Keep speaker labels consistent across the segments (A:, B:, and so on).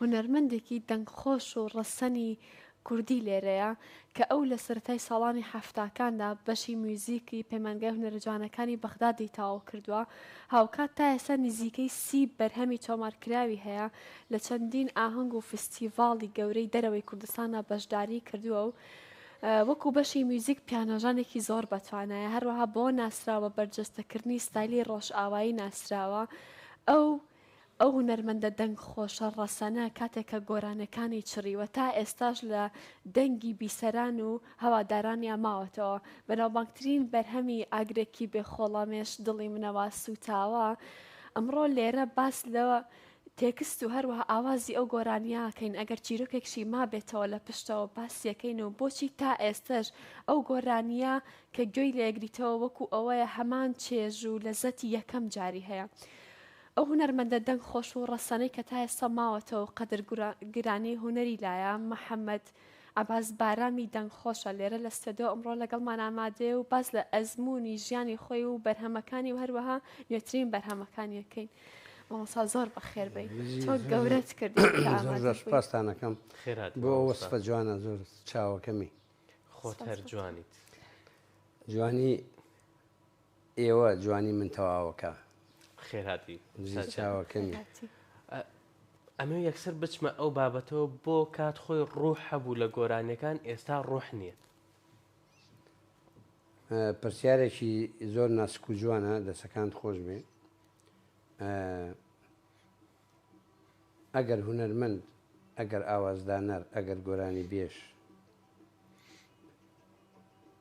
A: هونەرمەندێکی دەنگ خۆش و ڕەسەنی کوردی لێرەیە کە ئەو لە سەرەتای ساڵانی حەفتاکاندا بەشی میوزیکی پەیمانگای هونەرە جوانەکانی بەغدادی تەواو کردووە، هاوکات تا ئێستا نزیکەی سی بەرهەمی تۆمارکراوی هەیە، لە چەندین ئاهەنگ و فستیڤاڵی گەورەی دەرەوەی کوردستاندا بەشداریی کردووە و وەکو بەشی میوزیک پیانۆژەنێکی زۆر بەتوانایە، هەروەها بۆ ناسراو بە بەرجەستەکردنی ستایلی ڕۆژئاوایی ناسراوە، ئەو. ئەو هونەرمەندە دەنگ خۆشە ڕەسەنە کاتێک کە گۆرانێکانی چڕیوە تا ئێستاش لە دەنگی بیسەران و هەوادارانیا ماوەتەوە بەناوبانگترین بەرهەمی ئاگرێکی بێ خۆڵەمێش دڵی منە وا سووتاوە ئەمڕۆ لێرە باس لە تێکست و هەروەها ئاوازی ئەو گۆرانیە کەین ئەگەر چیرۆکێکشی مابێتەوە لە پشتەوە باسیەکەین و بۆچی تا ئێستەش ئەو گۆرانیە کە گوێی لێگریتەوە وەکو ئەوەیە هەمان چێژ و لەزەتی یەکەم جاری هەیە ئەو هونەرمەندە دەنگ خۆش و ڕەسەنەی کە تا ئێستا ماوەتەوە و قەدر گرانی هونەری لایە محەمەد عەباس بارامی دەنگ خۆشە لێرە لە ستۆدیۆ ئەمڕۆ لەگەڵمان ئامادەیە و باس لە ئەزموونی ژیانی خۆی و بەرهەمەکانی و هەروەها نوێترین بەرهەمەکانی ئەکەین. مامۆسا زۆر بەخێر بی تۆ گەورەت کرد پاستانەکەم
B: خێرات بۆ وەسفە جوانە زۆر چاوەکەمی خۆت هەر جوانیت جوانی ئێوە جوانی من تەواوەکە. خێرهاتی
C: بژی
B: چاوەکەمی.
C: ئەمەوێ یەکسەر بچمە ئەو بابەتەوە بۆ کات خۆی ڕوح هەبوو لە گۆرانیەکان ئێستا ڕوح نییە.
B: پرسیارێکی زۆر ناسک و جوانە دەسەکانت خۆش بێ ئەگەر هونەرمەند ئەگەر ئاوازدانەر ئەگەر گۆرانی بێش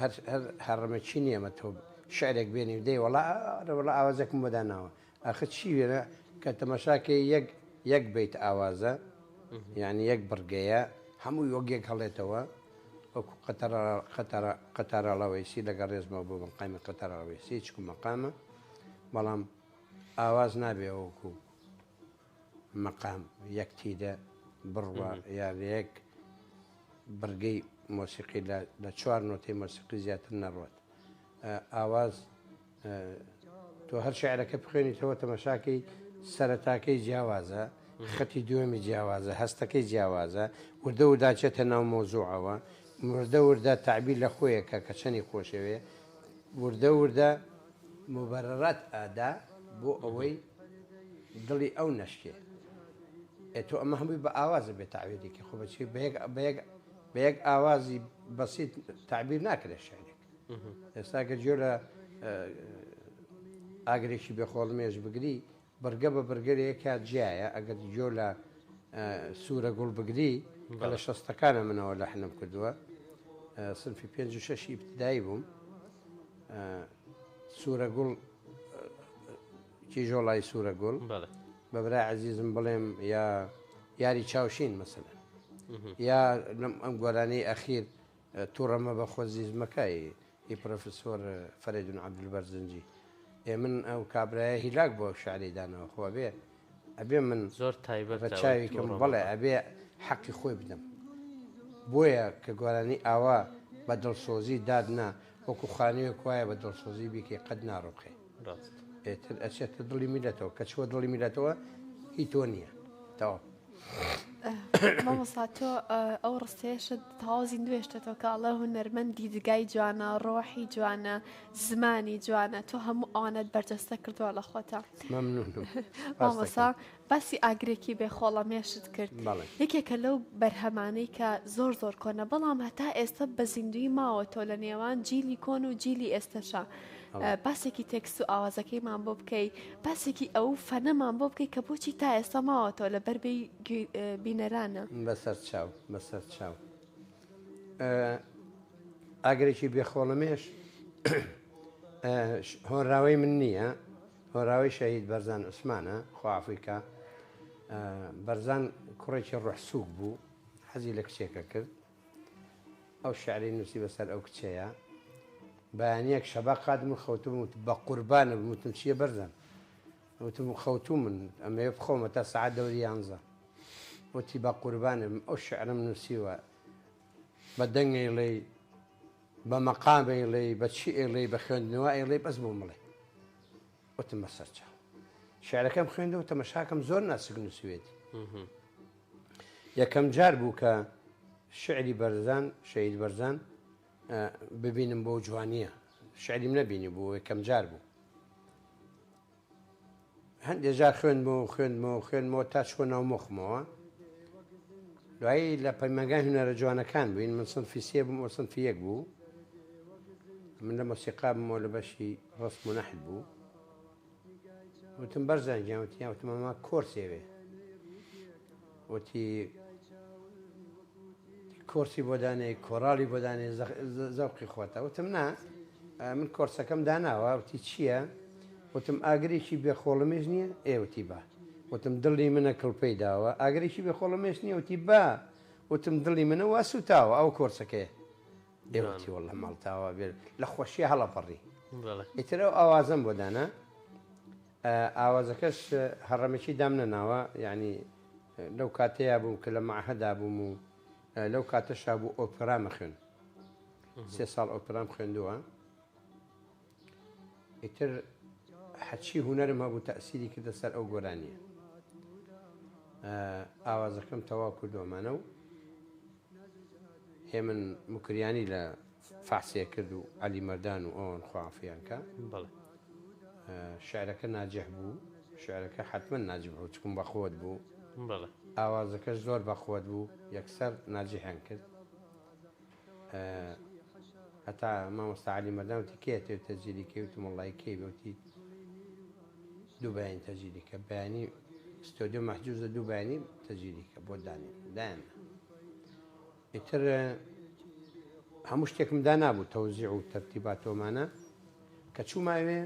B: هەر هەر هەڕەمە چی نیە ئەمە تۆ شعرێک بێنی و دەی وەڵا ئەرە وەڵا ئاوازێکم بۆ داناوە ئاخر چی وێنە کە تەماشا کەی یەک یەک بەیت ئاوازە یانی یەک بڕگەیە هەمووی وەک یەک هەڵێتەوە وەکو قەتەڕ قەتەڕ قەتاراڵەوەیسی لەگەڵ ڕێزمەوە بۆ مەقامی قەتەراڵەوەیسی چکو مەقامە بەڵام ئاواز نابێ وەکو مقام یەک تیدە بڕوا یا لە یەک بڕگەی مۆسیقی لە چوار نۆتەی مۆسیقی زیاتر نەڕوات ئاواز تۆ هەر شعرەکە بخوێنیتەوە تەمەشاکەی سەرەتاکەی جیاوازە خەتی دوێمی جیاوازە هەستەکەی جیاوازە وردە و داچێتە ناو مۆزوعەوە وردە وردە تعبیر لە خۆیەکە کە چەنی خۆشەوێ وردە وردە موبەرەرات ئەدا بۆ ئەوەی دڵی ئەو نەشکێ. ئێ تۆ ئەمە هەمووی بە ئاوازە بێ تەعبیرێکی خۆ بەچی بە یەک بە یەک بە یەک ئاوازی بەسیت تەعبیر ناکرێ شعرێک. ئێستا گەر گوێ لە ئاگرێکی بێ خۆڵمێش بگری بڕگە بە بڕگە لەیەکا جیایە ئەگەر گوێ لە سورە گوڵ بگری کە لە شەستەکانە منەوە لەحنم کردووە سنفی پێنج و شەشی ئیبتدایی بووم سورە گوڵ کیژۆڵای سورە گوڵ بە برای عزیزم بڵێم یا یاری چاوشین مەسەلەن یا ئەم گۆرانی ئەخیر تووڕەمە بە خۆزیزمەکەی ی پرۆفیسۆر فەرەیدون عەبدولبەرزنجی ئێ من ئەو کابرایە هیلاک بۆ ئەو شعرەی داناوە خۆ ئەبێ ئەبێ من زۆر تایبەتە بە
C: چاوی کەم بەڵێ
B: ئەبێ حەقی خۆی بدەم بۆیە کە گۆرانی ئاوا بە دڵسۆزی دادنا وەکو خانوێک وایە بە دڵسۆزی بیکەی قەت ناڕوخێ.
C: ڕاست ئێتر
B: ئەچێتە دڵی میلەتەوە کە چوە دڵی میلەتەوە هی تۆ نییە تاوا
A: مامۆسا تۆ ئەو ڕستێشت تازی نوێشتێتەوە کاڵە هونەرمەند دیدگای جوانە ڕۆحی جوانە زمانی جوانە تۆ هەموو ئاەت بەرجەستە کردووە لە خۆتە مامۆسا باسی ئاگرێکی بێ خۆڵە مێشت کرد بەڵێ. یەکێکە لەو بەرهەمانەی کە زۆر زۆر کۆنە بەڵام هەتا ئێستە بە زیندووی ماوەتەوە لە نێوان جیلی کۆن و جیلی ئێستەشا بەڵێ. باسێکی تێکست و ئاوازەکەیمان بۆ بکەی باسێکی ئەوو فەنەمان بۆ بکەی کە بۆچی تا ئێستا ماوەتەوە لە بەر بێی گوی بینەرانە. بەسەر چاو
B: بەسەر چاو ئاگرێکی بێ خۆڵەمێش هۆنراوەی من نییە هۆراوەی شەهید بەرزان عوسمانە، خوا عەفوی کا. بەرزان کوڕێکی ڕۆح سووک بوو، حەزی لە کچێکە کرد. ئەو شعرەی نووسی بەسەر ئەو کچەیە. بەیانییەک شەبا قاتم و خەوتووم وت بە قوربانت بم وتم چییە بەرزان؟ وتم خەوتوومن ئەمەوێ بخەومە تا سەعات دەوری یانزە. وتی بە قوربانت بم ئەو شعرەم نووسیوە بە دەنگەیڵەی بە مەقام ئەیڵێی بە چی ئەیڵێی بە خوێندنەوە ئەیڵێی بەس بۆم بڵێ وتم بە سەرچاو شعرەکەم خوێندەوە تەمەشاکەم زۆر ناسک نووسوێتی یەکەم جار بوو کە شعری بەرزان شەید بەرزان ببینم بۆ جوانیە شعریم نەبینی بوو یەکەم جار بوو هەندێ جار خوێندمەوە خوێندمەوە خوێندمەوە تا چووە ناو مۆخمەوە دوایی لە پەیمەگای هونەرە جوانەکان بووین من سنفی سێ بووم ئەو سنفی یەک بوو من لە مۆسیقا بمەوە لە بەشی ڕسم و نەحت بوو وتم بەرزان گیان وتیان وتمەما کۆرسێوێ وتی، کۆرسی بۆ دانێ، کۆراڵی بۆ دانێ، زەوقی خۆتە. وتم، نا، من کۆرسەکەم داناوە. وتی، چییە؟ وتم، ئاگرێکی بێ خۆڵەمێش نییە؟ ئێ، وتی، با. وتم، دڵی منە کڵپەی داوە. ئاگرێکی بێ خۆڵەمێش نییە؟ وتی، با. وتم، دڵی منە وا سووتاوە، ئەوە کۆرسەکەیە. ئێ، وتی، وەڵڵا ماڵتاوا بێ لە خۆشییە هەڵەپەڕی. ئیتر ئەو ئاوازەم بۆ دانا. ئاوازەکەش هەڕەمەکی دام نەناوە یانی لەو کاتەیا بووم کە لە مەعهەدا بووم و لەو کاتەشا بوو ئۆپرام ئەخوێن سێ ساڵ ئۆپرام خوێندووە ئیتر حەچی هوەرم هەبوو تەسیری کردە سەر ئەو گۆرانیە ئاوازەکەم تەواو کردوەمانە و هێمن مکریانی لە فەحسێ کرد و عەلی مەردان و ئەوان خوافیان کە بەڵێ شعرەکە ناجح بوو شعرەکە حتمما ناجح بوو چکم بەقوت بوو بەڵێ ئاوازەکەش زۆر بەقوت بوو یەکسەر ناجحیان کرد هەتا مامۆستا عەلی مەردان وتی کێ تێ تەجیلی کەی وتم وەڵڵای کەی بوتی دوو بەیانی تەجیلی کە بەیانی ستۆدیۆ مەحجوزە دوو بەیانی تەجیلی کە بۆ دانێن دایان ئیتر هەموو شتێکم دانابوو تەوزیع و تەرتیباتۆمانە کە چووماوێ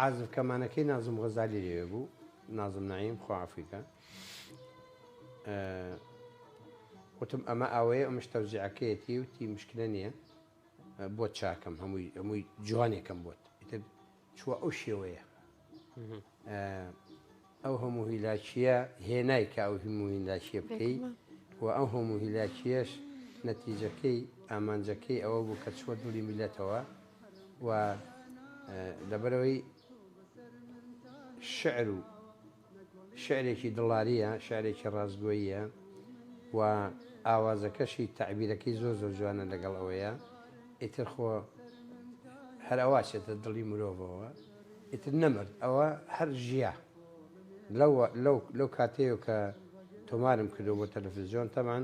B: عازف کەمانەکەی نازم غەزالی لێوێ بوو نازم نعیم خوافیکە وتم ئەمە ئەوەیە ئەمش تەوزیعەکەیەتی و تی مشکلە نییە بۆ چاکەم هەمووی هەمووی جوانێکم بۆت ئیتر چووە ئەو شێوەیە ئەو هەموو هیلاکیە هێنای کە ئەو هەموو هیلاکیە بکەیت و ئەو هەموو هیلاکیەش نەتیجەکەی ئامانجەکەی ئەوە بوو کە چوە دڵی میلەتەوە و لەبەرەوەی شعر و شیعرێکی دڵارییە، شیعرێکی ڕاستگۆییە و ئاوازەکەشی تەعبیرەکەی زۆر زۆر جوانە لەگەڵ ئەوەیا ئیتر خۆ هەر ئەوا چێتە دڵی مرۆڤەوە ئیتر نەمرد ئەوە هەر ژیا لەو لەو لەو کاتەیەوە کە تۆمارم کردو بۆ تەلەفزیۆن تەمان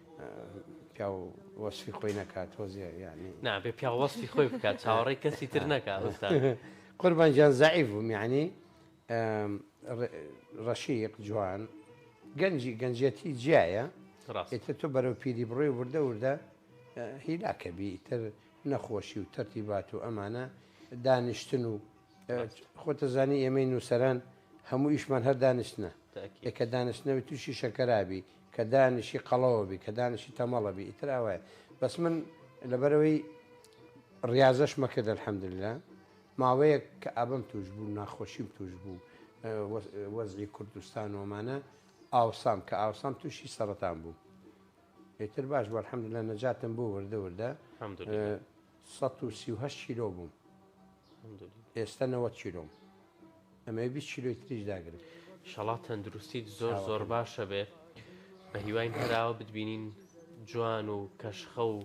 B: پیاو وەسفی خۆی نەکات تۆزێ یعنی نابێ پیاو وەسفی
C: خۆی بکات چاوەڕێی کەسی تر نەکا ئوستاد قوربان
B: جان زعیف بووم یعنی ڕەشیق جوان گەنجی گەنجەتی جیایە ئێتر تۆ بەرەو پیری بڕێ و وردە وردە هیلاکە بی تر نەخۆشی و تەرتی بات و ئەمانە دانیشتن و خۆتە زانی ئێمەی نووسەران هەموو ئیشمان هەر دانیشتە یەکە دانیشتنەوەی تووشی شەکەرابی کە دانیشی قەڵەوە بی کە دانیشی تەمەڵە بی ئیتر ئاوایە بەس من لەبەرەوەی ڕاضەش مەکرد الحەمدللا ماوەیەک کە ئابم توش بوو ناخۆشیم توش بوو وەزی کوردستان ومانە ئاوسام کە ئاوسام تووشی سەرەتان بوو ئیتر باش بۆ الحەمدللا نەجاتم بوو وردە وردە سەد و سی و هەشت کیلۆ بووم ئێستە نەوەد کیلۆم ئەمەوێ بیست کیلۆی تریش داگرم شەڵا تەندروستیت
C: زۆر چاوەکەم. زۆر باشە بێ بە هیواین هەراوە بتبینین جوان و کەشخە و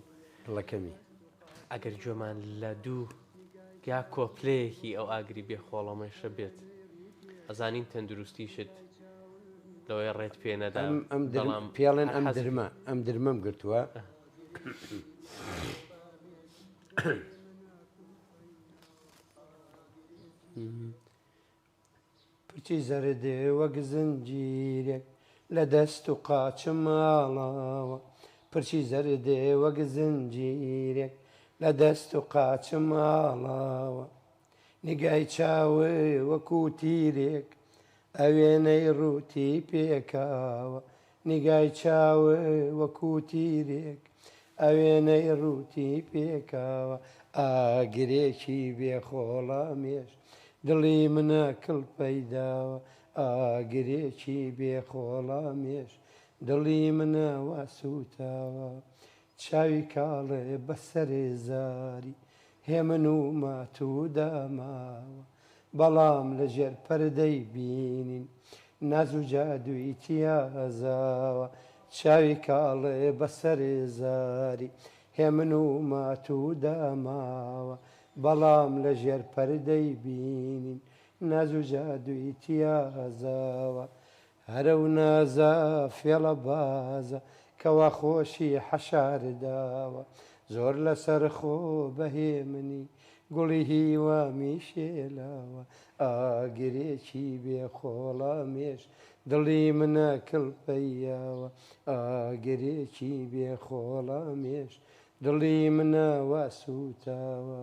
C: دڵەکەمی
B: ئەگەر
C: گوێمان لە دوو یا کۆپلەیەکی ئەو ئاگری بێ خۆڵەمێشە بێت ئەزانین تەندروستیشت لەوەی ڕێت پێ نەدا ئەم ئەم درم بەڵام پێڵێن ئەم
B: هەرحەز درمە ئەم درمەم گرتووە پچی زەردێ وەک زنجیرێک لە دەست و قاچە ماڵاوە پرچی زەردێ وەک زنجیرێک لە دەست و قاچە ماڵاوە نگای چاوێ وەکو تیرێک ئەوێنەی ڕووتی پێکاوە نیگای چاو وەکو تیرێک ئەوێنەی ڕووتی پێکاوە ئاگرێکی بێ خۆڵە مێش دڵی منە کڵپەی داوە ئاگرێکی بێ خۆڵە مێش دڵی منە وا سووتاوە چاوی کاڵێ بەسەر زاری هێمن و ماتوودا ماوە بەڵام لە ژێر پەردەی بینین ناز و جادووی تیازاوە چاوی کاڵێ بە سەر زاری هێمن و ماتوو دا ماوە بەڵام لە ژێر پەردەی بینین ناز و جادووی تیازاوە هەرە و نازە فێڵە بازە کەوا خۆشی حەشارت داوە زۆر لەسەر خۆ بەهێمنی گوڵی هیوامی شێلاوە ئاگرێکی بێ خۆڵە مێش دڵی منە کڵپەیاوە ئاگرێکی بێ خۆڵە مێش دڵی منە وا سووتاوە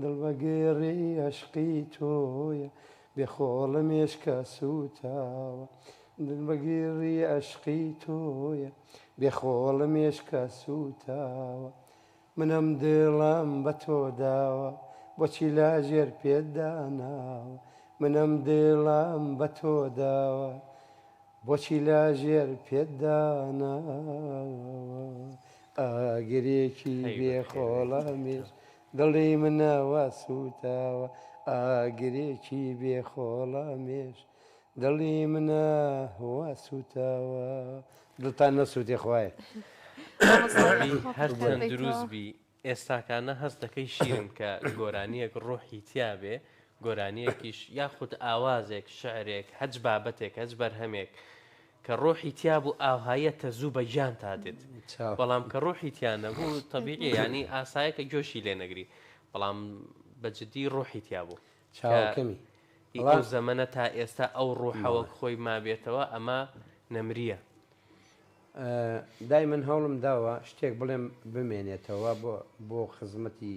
B: دڵ بە گێڕی ئەشقی تۆیە بێ خۆڵە مێشکە سووتاوە دڵ بە گێڕی ئەشقی تۆیە بێ خۆڵە مێشکە سووتاوە من ئەم دڵەم بە تۆ داوە بۆچی لاژێر پێت داناوە من ئەم دڵەم بە تۆ داوە بۆچی لاژێر پێت داناوە ئاگرێکی بێ خۆڵە مێشکە دڵی منەوە سووتاوە ئاگرێکی بێ خۆڵەمێش دڵی منەوە سووتاوە دڵتان نەسووتێ خوایە.
C: هەرچەند دروست بی ئێستاکانە هەست دەکەی شیرم کە گۆرانیەک ڕۆحی تیا بێ گۆرانیەکیش یاخود ئاوازێک شعرێک هەچ بابەتێک هەچ بەرهەمێک کە ڕۆحی تیا بوو ئاوهاییە تە زوو بە گیانتا دێت بەڵام کە ڕۆحی تیا نەبوو تەبیعیە یانی ئاسایە کە گۆشی لێ نەگری بەڵام بە جدی ڕۆحی تیا بوو چاوەکەمی
B: ئی ئەو
C: زەمەنە تا ئێستا ئەو ڕۆحە وەک خۆی مابێتەوە ئەمە نەمریە.
B: دایمەن هەوڵم داوە شتێک بڵێم بمێنێتەوە بۆ خزمەتی.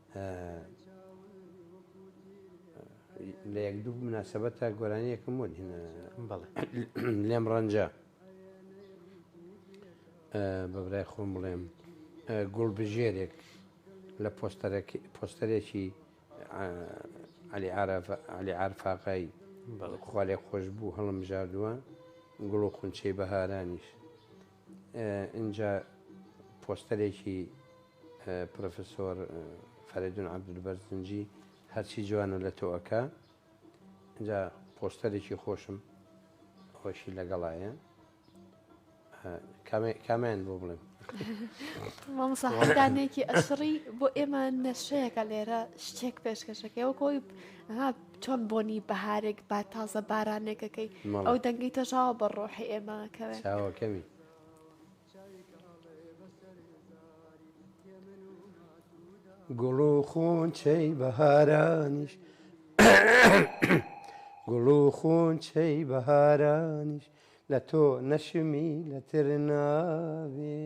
B: لە یەک دوو مناسبەتە گۆرانیەکم بۆ دێنە لێم ڕەنجە بەبرای خۆم بڵێم گوڵ بژێرێک لە پۆستەرێکی علی علی عرفاقای خوالێ خۆش بوو هەڵم ژاردووە گوڵ و خونچەی بەهارانیش ئینجا پۆستەرێکی پرۆفیسۆر فەرەیدون عەبدول بەرزنجی هەرچی جوانە لە تۆ ئەکا ئینجا پۆستەرێکی خۆشم خۆشی لەگەڵایە کامیان بۆ بڵێم مامساحدانێکی
A: ئەسڕی بۆ ئێمە نەشەیەەکە لێرە شتێک پێشکەشەکەەوە کۆی چۆن بۆنی بەهارێک با تازە بارانێکەکەی مەڵێ. ئەو دەنگی تەژاوە بە ڕۆحی ئێمە ئەکەوێ. چاوەکەمی.
B: گوڵ و خونچەی بەهارانیش گوڵ و خونچەی بەهارانیش لە تۆ نەشمی لەتر ناوێ.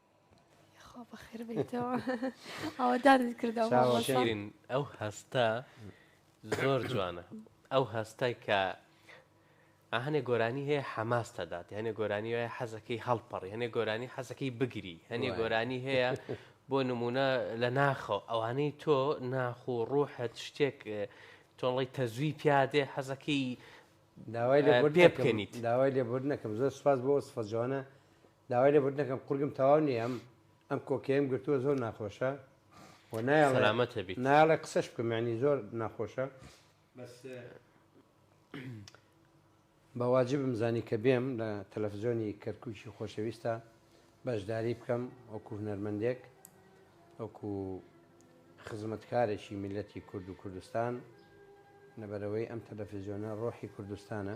A: خوا بەخێر بێیتەوە ئاوادانت کردەوە چاوەکەی. مامۆستا شیرین ئەو
C: هەستە زۆر جوانە ئەو هەستە کە ئا هەنێ گۆرانی هەیە حەماس تەدات هەنێ گۆرانی وایە حەزەکەی هەڵپەڕی هەنێ گۆرانی حەزەکەی بگری هەنێ وایە. گۆرانی هەیە بۆ نمونە لە ناخەوە ئەوانەی تۆ ناخ و ڕوحت شتێک اه، تۆڵەی تەزوی پیادێ حەزەکەی داوای
B: لێبوردن پێ نەکەم بکەنیت. داوای
C: لێبوردن نەکەم
B: زۆر سوپاس بۆ ئەو سفە جوانە داوای لێبوردن دەکەم قورگم تەواو نیە ئەم ئەم کۆکەیەم گرتووە زۆر ناخۆشە و نایڵێ
C: نایڵێ قسەش بکەم یعنی
B: زۆر ناخۆشە بەس بەواجبم زانی کە بێم لە تەلەفزیۆنی کەرکووکی خۆشەویستە بەشداری بکەم وەکو هونەرمەندێک وەکو خزمەتکارێکی میلەتی کورد و کوردستان لەبەرەوەی ئەم تەلەفزیۆنە ڕۆحی کوردستانە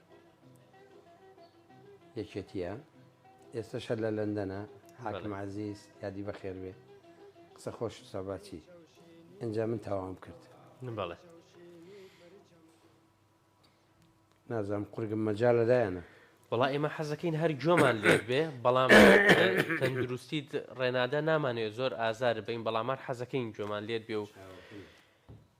B: یەکێتیە ئێستەش هەر لە لەندەنە حاکم عزیز یادی بەخێر بێ قسە خۆش ساباتی ئەجا من تاوام کرد بەڵێ نازانم قورگم مەجا لەدایەنە وڵا ئێمە
C: حەزەکەین هەر گوێمان لێت بێ بەڵام تەندروستیت ڕێنادا نامانێت زۆر ئازار بین بەڵامان حەزەکەین گوێمان لێت بێ و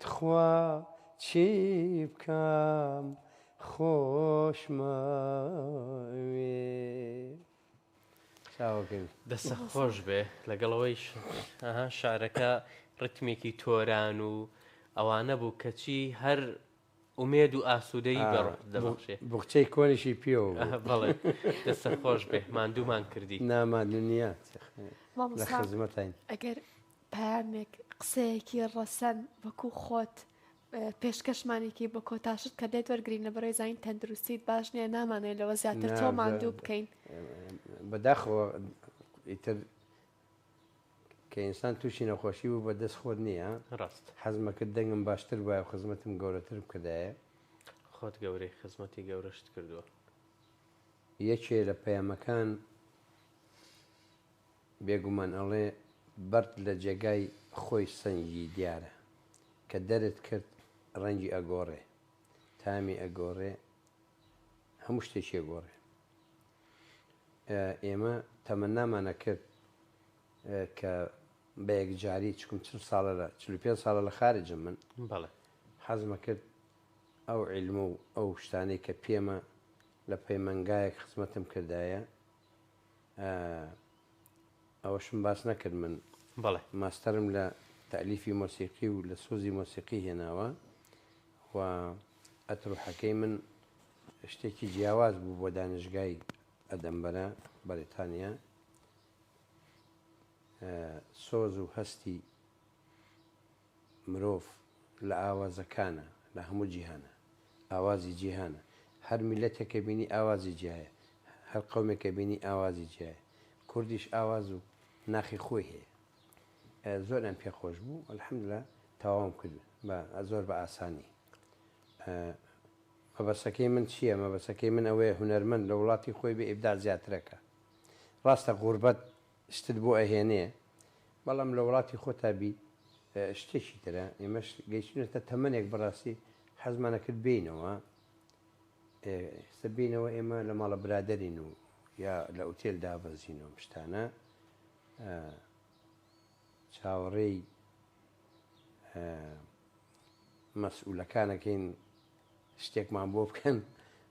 B: تخوا چی بکەم خۆشمەوێی. دەستت
C: خۆش بێ لەگەڵ ئەوەیش ئەها شعرەکە ڕیتمێکی تۆران و ئەوانە بوو کەچی هەر ئومێد و ئاسوودەیی بە ڕۆحت دەبەخشێ. ئا بوخچەی کۆنیشی
B: پێوە بوو. ئا بەڵێ.
C: دەستت خۆش بێ. ماندوومان کردی. نا ماندوو نییە.
B: لە خزمەتاین. مامۆستا ئەگەر
A: پەیامێک، قسەیەکی ڕەسەن وەکو خۆت پێشکەشمانی کەی بە کۆتاشت کە لێت وەرگرین لە بەڕێ زانین تەندروستیت باش نییە نامانەوێ لەوە زیاتر تۆ ماندوو بکەین. نا بە بەداخەوە
B: ئیتر کە ئینسان توشی نەخۆشی بوو بە دەست خۆت نیە ڕاست. حەزمە
C: کرد دەنگم
B: باشتر بوایە و خزمەتم گەورەتر بکردایە. خۆت
C: گەورەی خزمەتی گەورەشت کردووە.
B: یەکێ لە پەیامەکان بێگومان ئەڵێ بەرد لە جێگای خۆی سەنگی دیارە کە دەرت کرد ڕەنگی ئەگۆڕێ تامی ئەگۆڕێ هەموو شتێکی ئەگۆڕێ. ئێمە تەمەنامان ئەکرد کە بە یەکجاری چکم چل ساڵە لە چل و پێنج ساڵە لە خارجم من بەڵێ
C: حەزم ئەکرد
B: ئەو عیلم و ئەو شتانەی کە پێمە لە پەیمەنگایەک خزمەتم کردایە ئەوەشم باس نەکرد من بەڵێ ماستەرم
C: لە
B: تەلیفی مۆسیقی و لە سۆزی مۆسیقی هێناوە و ئەتروحەکەی من شتێکی جیاواز بوو بۆ دانشگای ئەدەنبەرە، بەریتانیا. سۆز و هەستی مرۆڤ لە ئاوازەکانە، لە هەموو جیهانە. ئاوازی جیهانە. هەر میللەتێک کە بینی ئاوازی جیایە. هەر قەومێک کە بینی ئاوازی جیایە. کوردیش ئاواز و ناخی خۆی هەیە. زۆریان پێ خۆش بوو الحمدللە تەواوم کرد بە زۆر بە ئاسانی مەبەسەکەی من چییە مەبەسەکەی من ئەوەیە هونەرمەند لە وڵاتی خۆی بێ ئیبداع زیاترەکە ڕاستە غوربەت شتت بۆ ئەهێنێ بەڵام لە وڵاتی خۆتا بی شتێکی ترە ئێمەش گەیشتونەتە تەمەنێک بەڕاستی حەزمان ئەکرد بێینەوە ئێستا بێینەوە ئێمە لە ماڵە برادەرین و یا لە ئوتێل دابەزین و ئەم شتانە ئە چاوەڕێی ئە مەسئولەکانەکەین شتێکمان بۆ بکەن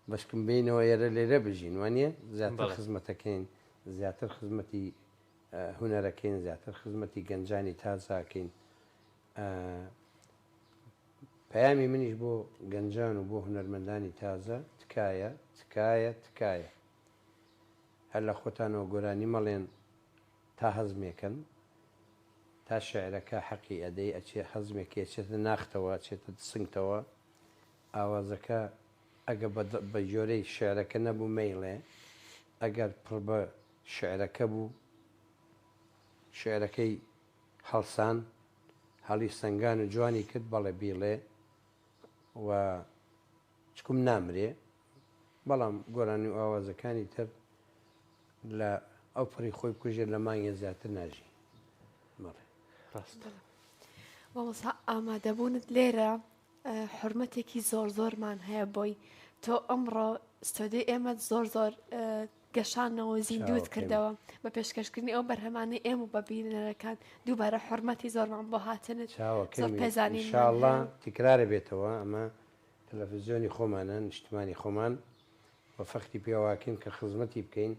B: بەشکم بینەوە یەرە لێرە بژین وانە زیاتر خزمەتەکەین زیاتر خزمەتی هونەرەکەین زیاتر خزمەتی گەنجانی تازاکەین پەیامی منیش بۆ گەنجان و بۆ هونەرمەندانی تازە تکایە تکایە تکایە هەر لە خۆتانەوە گۆرانی مەڵێن تا هەزمێکن تا شعرەکە حەقی ئەدەی ئەچێ هەزمێکی ئەچێتە ناختەوە ئەچێتە سنگتەوە ئاوازەکە ئەگە بە بە جۆرەی شعرەکە نەبوو مەیڵێ ئەگەر پڕ بە شعرەکە بوو شعرەکەی هەڵسان هەڵی سەنگان و جوانی کرد بەڵێ بیڵێ و چکم نامرێ بەڵام گۆرانی و ئاوازەکانی تر لە ئەو پڕی خۆی بکوژێ لە مانگێ زیاتر ناژی بەڵێ ڕاستە
A: مامۆسا ئامادەبوونت لێرە حرمەتێکی زۆر زۆرمان هەیە بۆی تۆ ئەمڕۆ ستۆدی ئێمە زۆر زۆر گەشانەوە زیندوت کردەوە بە پێشکەشکردنی ئەو بەرهەمانی ئێمە و بەبیینەکان دووبارە حرمەتی زۆرمان بۆ هاتنت زۆر پێزانانی تکرارە
B: بێتەوە ئەمە تەلەفزیۆنی خۆمانە نیشتمانی خۆمان و فەخری پێواکەین کە خزمەتی بکەین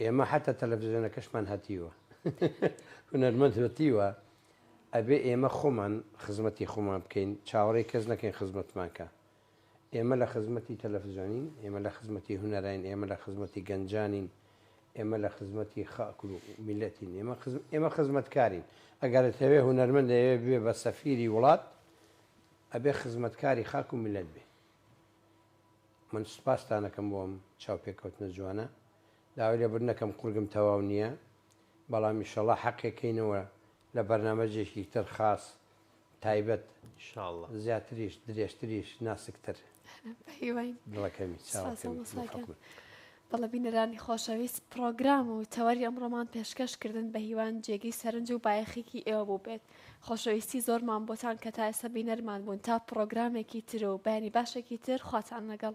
B: ئێمە حتا تەلەڤزیۆنەکەشمان هەتیوە هونەرمەند هەتیوە ئەبێ ئێمە خۆمان خزمەتی خۆمان بکەین چاوەڕێ کەس نەکەین خزمەتمانکە ئێمە لە خزمەتی تەلەفزیۆنین، ئێمە لە خزمەتی هونەراین، ئێمە لە خزمەتی گەنجانین، ئێمە لە خزمەتی خاک و میللەتین، ئێمە خزمەتکارین، ئەگەر دەتەوێت هونەرمەند دەیەوێت ببێت بە سەفیری وڵات ئەبێت خزمەتکاری خاک و میللەت بێت. من سوپاستان ئەکەم بۆ ئەم چاوپێکەوتنە جوانە، داوای لێبوردن ئەکەم قورگم تەواو نییە، بەڵام ئیشەڵا حەقێکەینەوە لە بەرنامەجێکی تر خاس تایبەت ان شاء اللە. زیاتریش درێژتریش ناسکتر. بە هیوای دڵەکەمی چاوە سپاس
A: کەمی هەموو ئەڵڵا خەڵکم. بەڵێ بینەرانی خۆشەویست پڕۆگرام و تەوەری ئەمڕۆمان پێشکەش کردن بە هیوان جێگەی سەرنج و بایەخیکی ئێوە بووبێت خۆشەویستی زۆرمان بۆتان کە تا ئێستا بینەرمان بوون تا پڕۆگرامێکی تر و بەیانی باشێکی تر خواتان لەگەڵ.